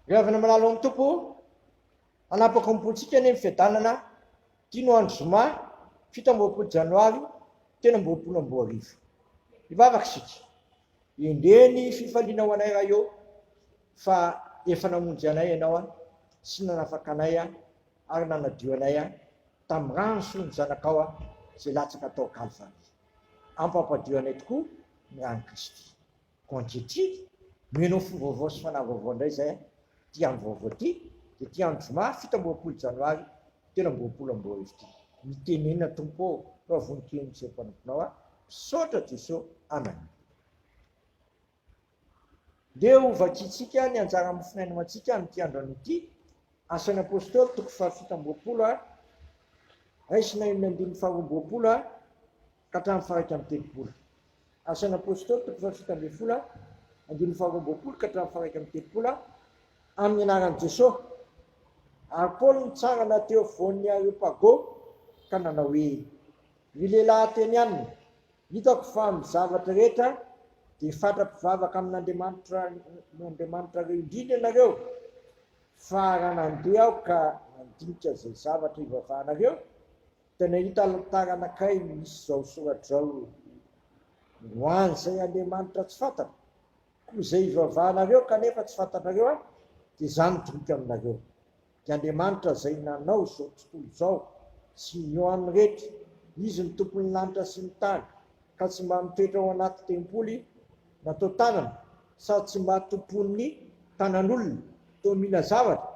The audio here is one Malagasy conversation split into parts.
Ry havana malala ao amin'ny Tompo, hanapaka ny bolontsika anie ny fiadanana, ity no andro zoma, fito amby roapolo janoary, telo amby roapolo amby roa arivo. Hivavaka isika, endrey ny fifaliana ho anay Ray ô, fa efa namonjy anay Ianao sy nanafaka anay ary nanadio anay tamin'ny rano sy ny Zanakao izay latsaka tao Kalvary. Ampampadio anay tokoa ny ran'i Kristy. Ko ankehitriny, mino ho fo vaovao sy fanahy vaovao indray izay an, ity andro vaovao ity, dia ity andro zoma fito amby roapolo janoary telo amby roapolo amby roa arivo ity. Mitenena Tompo ô, fa vonon-keny miseho mpanomponao aho, misaotra Jeso amen. Ndeha ho vakintsika ny anjara mofon'aina ho antsika amin'ity andro anio ity, Asan'ny Apostoly toko fahafito amby roapolo, Raisina enina ambin'ny faharoa amby roapolo. ka hatramin'ny faharaika amby telopolo. Asan'ny Apôstôly toko fahafito ambin'ny folo andininy faharoa amby roapolo ka hatramin'ny faharaika amby telopolo Amin'ny anaran'i Jesosy, ary Paoly nitsangana teo afovoan'ny Areopago ka nanao hoe, Ry lehilahy Atenianina, hitako fa amin'ny zavatra rehetra dia fatra-pivavaka amin'Andriamanitra Andriamanitrareo indrindra ianareo, fa raha nandeha aho ka nandinika izay zavatra ivavahanareo, Dia nahita alitara anankiray misy izao soratra izao, Ho an'izay andriamanitra tsy fantatra, koa izay ivavahanareo kanefa tsy fantatrareo Ahy, dia Izaho midroka aminareo. Dia Andriamanitra izay nanao izao tontolo izao sy ny eo aminy rehetra, Izy no Tompon'ny lanitra sy ny tany, ka tsy mba mitoetra ao anaty tempoly, natao tanana sady tsy mba tompon'ny tanan'olona toa mila zavatra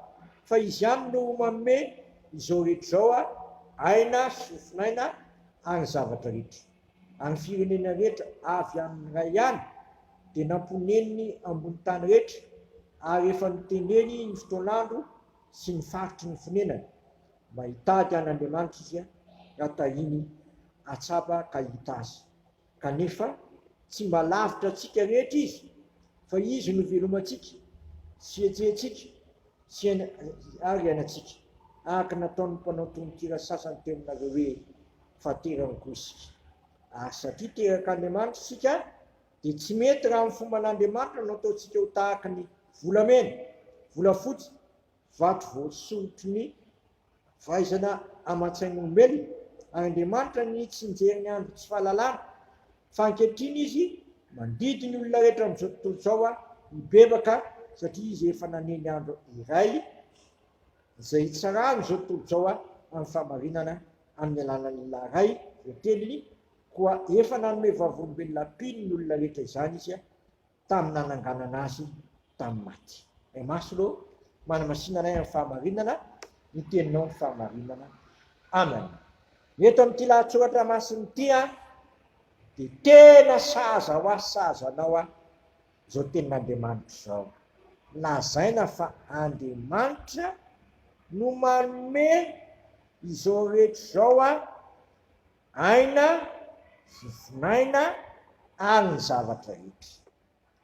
fa izy ihany no manome izao rehetra izao aina sy fofonaina ary zavatra rehetra ary firenena rehetra avy aminy iray ihany dia namponeniny ambony tany rehetra ary efa notendreny ny fotoan'andro sy ny faritry ny fonenany mba hitady an'Andriamanitra izy raha tahiny atsapa ka hita azy. Kanefa tsy mba lavitra antsika rehetra Izy, fa Izy no ivelomantsika, tsietsentsika, sy ary iainantsika, araka ny nataon'ny mpanao tononkira sasany teo aminareo hoe, Faterany koa isika. Ary satria terak'Andriamanitra isika, dia tsy mety raha amin'ny fomban'Andriamanitra no ataontsika ho tahaka ny volamena, volafotsy, vato voasoritry ny fahaizana aman-tsain'olombelona, ary Andriamanitra ny tsy nijery ny andro tsy fahalalana, fa ankehitriny Izy mandidy ny olona rehetra amin'izao tontolo izao hibebaka, satria Izy efa nanendry andro iray izay hitsarany izao tontolo izao amin'ny fahamarinana amin'ny alalan'ny Lahy Ray voateliny, koa efa nanome vavolombelona mpino ny olona rehetra izany Izy. tamin'ny nananganana azy tamin'ny maty. Ray Masina ô, manamasina anay amin'ny fahamarinana ny teninao ny fahamarinana. Amen. Ny eto amin'ity lahatsoratra masina ity a, dia tena sahaza ho ahy sahaza anao a, izao tenin'Andriamanitra izao. Lazaina fa Andriamanitra no manome izao rehetra izao a, aina sy fon'aina ary ny zavatra rehetra.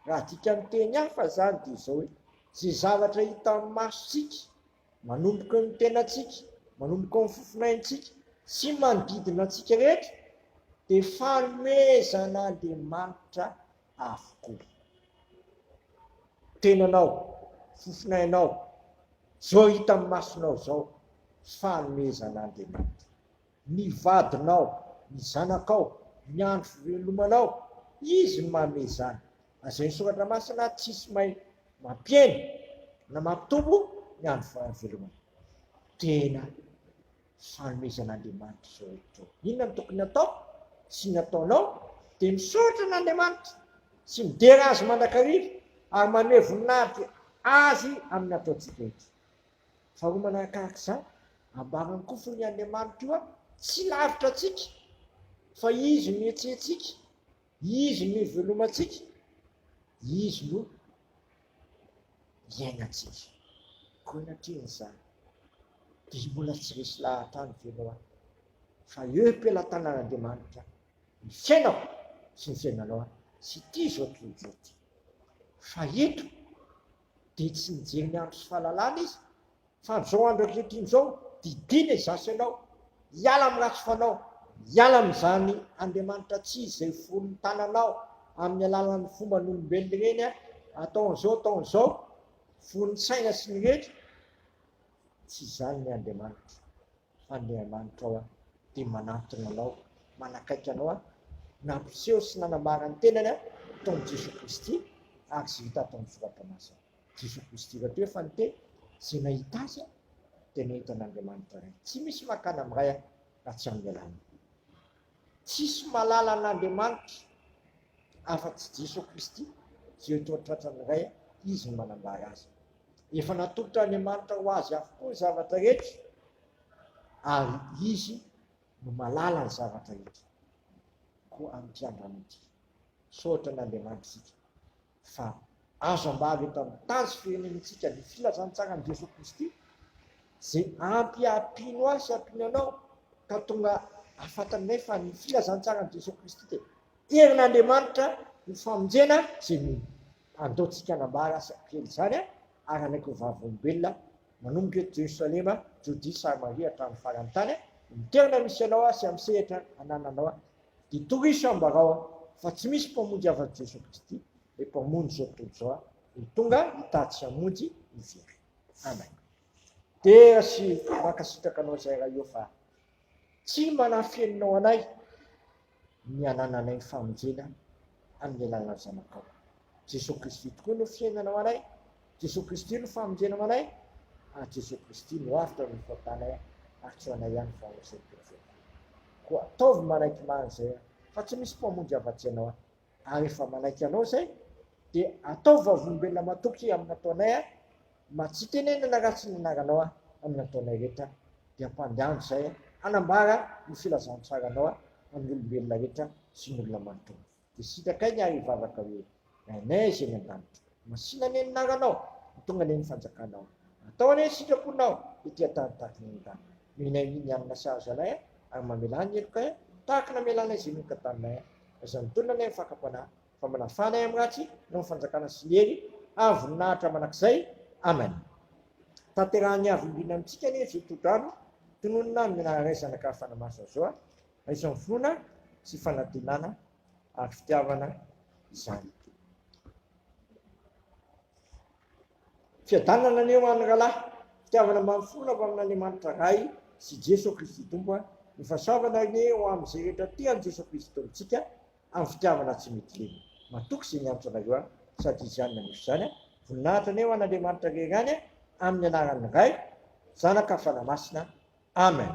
Raha adika amin'ny teny hafa izany dia izao hoe, izay zavatra hitan'ny masontsika, manomboka ny tenantsika, manomboka ny fofon'aintsika sy manodidina antsika rehetra dia fanomezan'Andriamanitra avokoa. Tenanao, fofon'ainao, izao hita amin'ny masonao izao, fanomezan'Andriamanitra. Ny vadinao, ny zanakao, ny andro fivelomanao, Izy no manome izany. Lazain'ny Soratra Masina, Tsisy mahay mampihena na mampitombo ny andro fahavelomana. Tena fanomezan'Andriamanitra izao hevitra izao. Inona no tokony hatao sy ny ataonao? Dia misaotra an'Andriamanitra sy midera Azy mandrakariva ary manome voninahitra Azy amin'ny ataontsika eto. Fa ho manakahak'izany, ambarany koa fony Andriamanitra io tsy lavitra antsika, fa Izy no ietsehentsika, Izy no ivelomantsika, Izy no iainantsika. Koa anatrehan'izany, dia mbola tsy resy lahatra any ve ianao any? Fa eo am-pelatanan'Andriamanitra ny fiainako sy ny fiainanao any, sy ity izao tontolo izao ity. Fa eto, dia tsy nijery ny andro sy fahalalana izy fa amin'izao andro ankehitriny izao didiana izaho sy ianao hiala amin'ny ratsy fanao, hiala amin'izany Andriamanitra tsy izy izay foron'ny tananao amin'ny alalan'ny fomban'olombelona ireny atao an'izao atao an'izao, foron'ny saina sy ny rehetra, tsy izany ny Andriamanitra. Fa Andriamanitra ao an, dia manantona anao, manakaiky anao an, nampiseho sy nanambara ny tenany an, tao amin'i Jesoa Kristy, ary izay hita ato amin'ny Soratra Masina. Jesoa Kristy rahateo efa niteny, izay nahita Azy an, dia nahita an'Andriamanitra Ray. Tsy misy mankany amin'ny Ray an, raha tsy amin'ny alalan'i. Tsisy mahalala an'Andriamanitra. afa-tsy Jeso Kristy, izay toa tratrany iray Izy no manambara azy. Efa natolotra Andriamanitra ho Azy avokoa ny zavatra rehetra, ary Izy no malala ny zavatra rehetra. Koa amin'ity androany ity, misaotra an'Andriamanitra isika fa Azo ambara eto amin'ny tanjy firenentsika ny filazantsaran'i Jesoa Kristy, izay ampiampino ahy sy ampiany anao ka tonga ahafantaranay fa ny filazantsaran'i Jesoa Kristy dia herin'Andriamanitra ho famonjena izay mino. Andaontsika hanambara sy hampihena izany ara-naiky ho vavolombelona manomboka eto Jerosalema, Jodia, Samaria hatramin'ny faran'ny tany. Amin'ny toerana misy anao sy amin'ny sehatra anananao dia toriso ambarao fa tsy misy Mpamonjy afa-tsy Jesoa Kristy Ilay mpamonjy izao tontolo izao an, no tonga hitaha tsy hamonjy ny very. Amen. Dera sy mankasitraka anao izay Ray ô fa tsy manafeninao anay ny hanananay ny famonjena amin'ny alalan'ny Zanakao. Jesoa Kristy tokoa no fiainana ho anay, Jesoa Kristy no famonjena ho anay, ary Jesoa Kristy no avotra amin'ny fahotanay an, ary tsy ho anay ihany fa ho an'izay mpiova koa. Koa ataovy manaiky marina izay an, fa tsy misy mpamonjy afa-tsy Ianao an, Ary efa manaiky anao zay de ataovy vavolombelona matoky amin'ny nataonay a! Mba tsy hitenenana ratsy ny anaranao a! Amin'ny nataonay rehetra de ampandehanjo zay a! Hanambara ny filazantsaranao a! Amin'ny olombelona rehetra sy ny olona manontolo. De sitrakai ny ary hivavaka hoe, Rainay izay any an-danitra. Masina anie ny naranao no tonga anie ny fanjakanao atao anie ny sitraponao ety an-tany tahaka ny an-danitra mihinay ny hanina sahaza anay a ary mamelà ny helokay a tahaka ny amelanay izay mioka taminay a aza mitonona anie ny fakam-panahy fa manafà anay amin'ny ratsy noho ny fanjakana sy ny hery ary voninahitra manak'izay amen tanterahan'ny avo indrindra amintsika anie izao tohodrano tononina amin'ny anaranay zanaka fanamaso azo a aiso amin'ny finoana sy fanantenana ary fitiavana izany. Fiadanana anie ho an'ny rahalahy, fitiavana mba mifono avy amin'Andriamanitra Ray sy Jesoa Kristy Tompo, ny fahasoavana anie ho amin'izay rehetra tia an'i Jesoa Kristy Tompontsika amin'ny fitiavana tsy mety lena. Matoky izay niantso anareo aho sady Izy ihany naneso izany. Voninahitra anie ho an'Andriamanitra Rery any amin'ny anaran'ny Ray, Zanaka, Fanahy Masina. Amen.